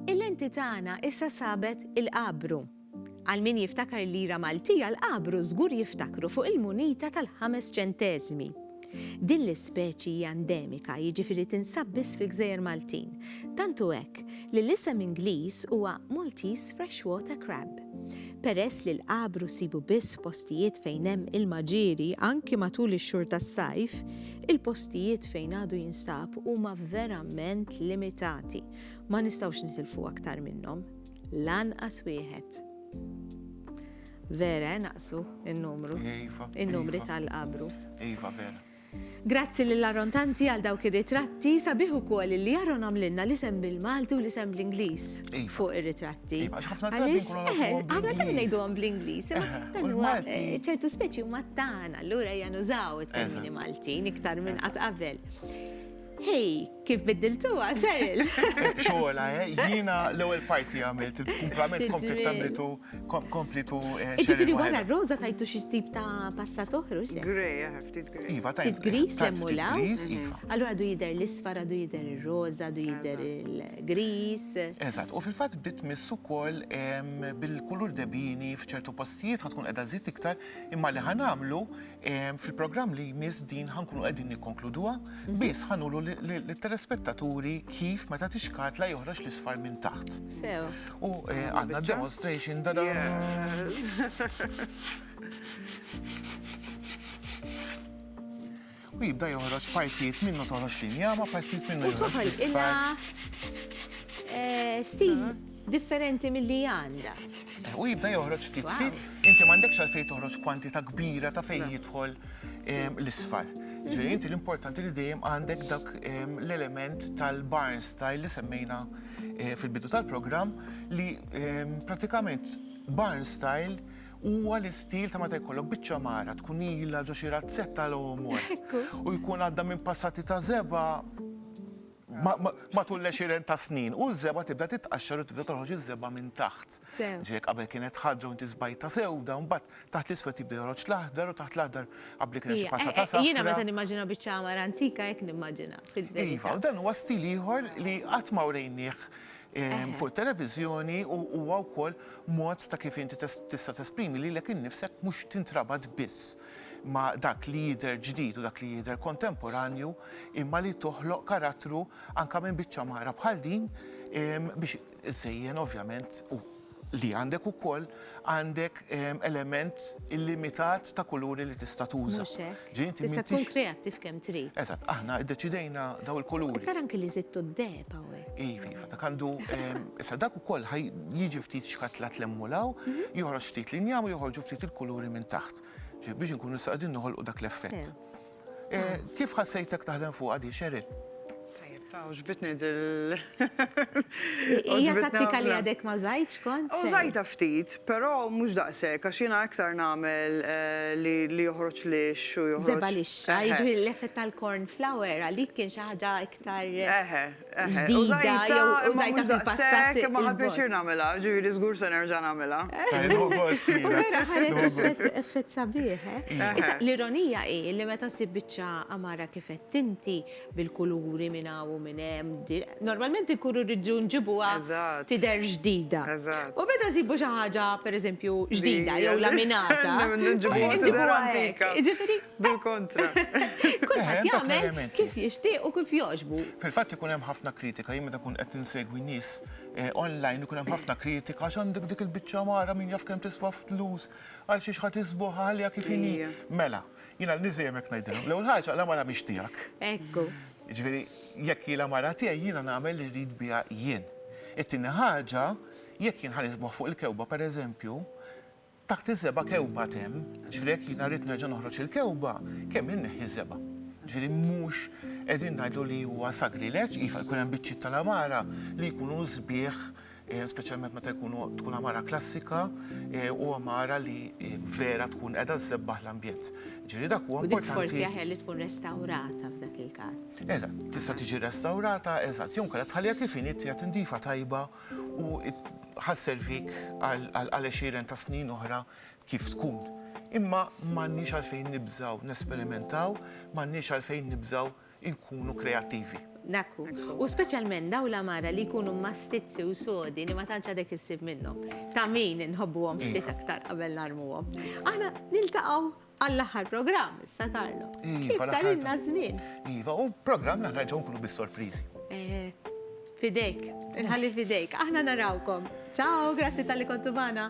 Il-lenti tagħna issa sabet il-qabru. Għal min jiftakar il-lira Maltija l-qabru żgur jiftakru fuq il-munita tal-ħames ċenteżmi. Din l-ispeċi hija endemika, jiġifieri tinsab biss fil-Gżejjer Maltin. Tantu hekk li l-isem Ingliż huwa Maltese Freshwater Crab. Peress li l-qabru ssibu biss f'postijiet fejn hemm ilma ġieri anki matul ix-xhur tas-sajf, il-postijiet fejn għadu jinstab huma verament limitati. Ma nistgħux nitilfu aktar minnhom. Lanqas wieħed. Vera, eh, naqsu n-numru. Iva, iva. In-numri tal-qabru. Iva, vera. Grazzi lil Aaron Tanti għal dawk ir-ritratti, sabiħ ukoll li Aaron għamlilna l-isem bil-Malti u l-isem bl-Ingliż fuq ir-ritratti. Iva, għax ħafna drabi nkunu nafu. Għaliex, eħe, ħafna drabi ngħiduhom bl-Ingliż, imma dan huwa ċertu speċi huma tagħna, allura ejja nużaw it-termini Maltin iktar minn qatt qabel. Hej! Kif biddiltuha, Cheryl? Xogħla, eh? Jiena l-ewwel parti għamilt, il-kumplament komplet tagħmlitu komplitu. Eh, Ġifieri wara r-roża tajtu xi tip ta' passat oħru xi. Grej, eh, ftit grej. Iva, tajtu. Ftit gris lemmu la. Iva. Allura du jidher l-isfar, du jidher ir-roża, du jidher il-gris. Eżatt, u fil-fatt bdiet miss ukoll bil-kulur debini f'ċertu postijiet ħatkun qiegħda żid iktar imma li ħanamlu Fil-programm li jmiss din ħankunu qegħdin nikkonkluduha, mhm. biss ħanulu l-telespettaturi kif meta tixkart la joħroġ l-isfar minn taħt. Sew. U eh, għandna demonstration da U jibda joħroġ partijiet minnu toħroġ linja, ma partijiet minnu joħroġ. U toħroġ illa eh, stil mhm. differenti milli hi għandha. U jibda joħroġ ftit ftit, inti m'għandekx għalfejn toħroġ kwantità kbira ta' fejn jidħol l-isfar. Ġifieri inti l-importanti li dejjem għandek dak l-element tal-barn style li semmejna eh, fil-bidu tal-programm li pratikament barn style huwa l-istil ta' meta jkollok biċċa mara tkun ilha ġo xi razzetta l omor u jkun għadda minn passati ta' zeba matul l-għexieren ta' snin, u l-żebgħa tibda titqaxxar u tibda toħroġ iż-żebgħa minn taħt. Ġifieri jekk qabel kienet ħadra u inti żbajtha sewda, mbagħad taħt l-iswed jibda joħroġ l-aħdar u taħt l-aħdar qabli kien hemm xi passata safra. Jiena meta nimmaġina biċċa għamara antika hekk nimmaġina fil-verità. Iva, u dan huwa stil ieħor li qatt ma wrejnieh fuq it-televiżjoni u huwa wkoll mod ta' kif inti tista' tesprimi lilek innifsek mhux tintrabat biss ma' dak li jidher ġdid u dak li jidher kontemporanju, imma li toħloq karattru anke minn biċċa mara bħal din biex iżżejjen ovvjament u li għandek ukoll għandek element illimitat ta' kuluri li tista' tuża. Mhux hekk. Ġifieri inti Tista' tkun m'intix kreattiv kemm trid. Eżatt, aħna ddeċidejna daw il-kuluri. Tara anke li żidtu d-deheb hawnhekk. Iva, iva, dak għandu, ehm, issa dak ukoll ħaj jiġi ftit xkatlat l hemm u l hawn, joħroġ ftit l-injam u joħorġu ftit il-kuluri minn taħt. Ġifieri biex inkunu nistgħu qegħdin noħolqu dak l-effett. Eh, kif ħassejtek taħdem fuq għadi, Sheryl? Taw, ġbitni dil. Ija tattika li għadek ma użajċ kont? Użajta ftit, pero mux daqse, għax jina iktar namel eh, li joħroċ li xu joħroċ. Zeba li xaj, ġbir l-effett tal-corn flour, għalik kien xaħġa iktar. Eħe, ġdida jew użajtha fil-passat. Kemm ma ħadmitx jien nagħmilha, ġifieri żgur se nerġa' nagħmilha. Vera ħareġ effett sabiħ, eh? Issa, l-ironija hi li meta ssib biċċa għamara kif għedt inti, bil-kuluri minn hawn u minn hemm, normalment inkunu rridu nġibuha tidher ġdida. U meta nsibu xi ħaġa, pereżempju, ġdida jew laminata, nġibuha tidher antika. Ġifieri, Bil-kontra. Kulħadd jagħmel kif jixtieq u kif jogħġbu. Fil-fatt ikun hemm ħafna kritika, jien meta nkun qed insegwi nies online ikun hemm ħafna kritika għax għandek dik il-biċċa mara min jaf kemm tiswa flus għal xiex ħa tisbuħha ħalliha kif inhi. Mela, jiena lil nies dejjem hekk ngħidilhom. L-ewwel ħaġa la mara mhix tiegħek. Ekku. Jiġifieri jekk hi la mara tiegħi jiena nagħmel li rrid biha jien. It-tieni ħaġa, jekk jien ħa nisbuħ fuq il-kewba pereżempju, Taħt is-seba' kewba temm, ġifieri jekk jiena rrid nerġa' noħroġ il-kewba, kemm inneħħi s-seba'. Ġifieri mhux qegħdin ngħidu li huwa sagrileġġ, iva jkun hemm biċċiet tal-għamara li jkunu sbieħ, speċjalment meta jkunu tkun għamara klassika u għamara li vera tkun qiegħda ssebbaħ l-ambjent. Ġifieri dak huwa importanti. U dik forsi aħjar li tkun restawrata f'dak il-każ. Eżatt, tista' tiġi restawrata, eżatt, jew inkella tħalliha kif inhi, tieha tindifa tajba. u ħa sservik għal għexieren ta' snin oħra kif tkun. Imma m'għandniex għalfejn nibżgħu nesperimentaw, m'għandniex għalfejn nibżgħu nkunu kreattivi. Dak hu. U speċjalment dawn l-għamara li jkunu mmastizzi u sodi li ma tantx għadek issib minnhom. Ta' min inħobbuhom ftit aktar qabel narmuhom. Aħna niltaqgħu. Għall-aħħar programm issa Carlo. Kif tarilna ż-żmien. Iva, u programm aħna ġew nkunu bis-sorpriżi. Eh, fidejk, inħalli fidejk. Aħna narawkom. Ciao, grazzi tal-li kontu magħna.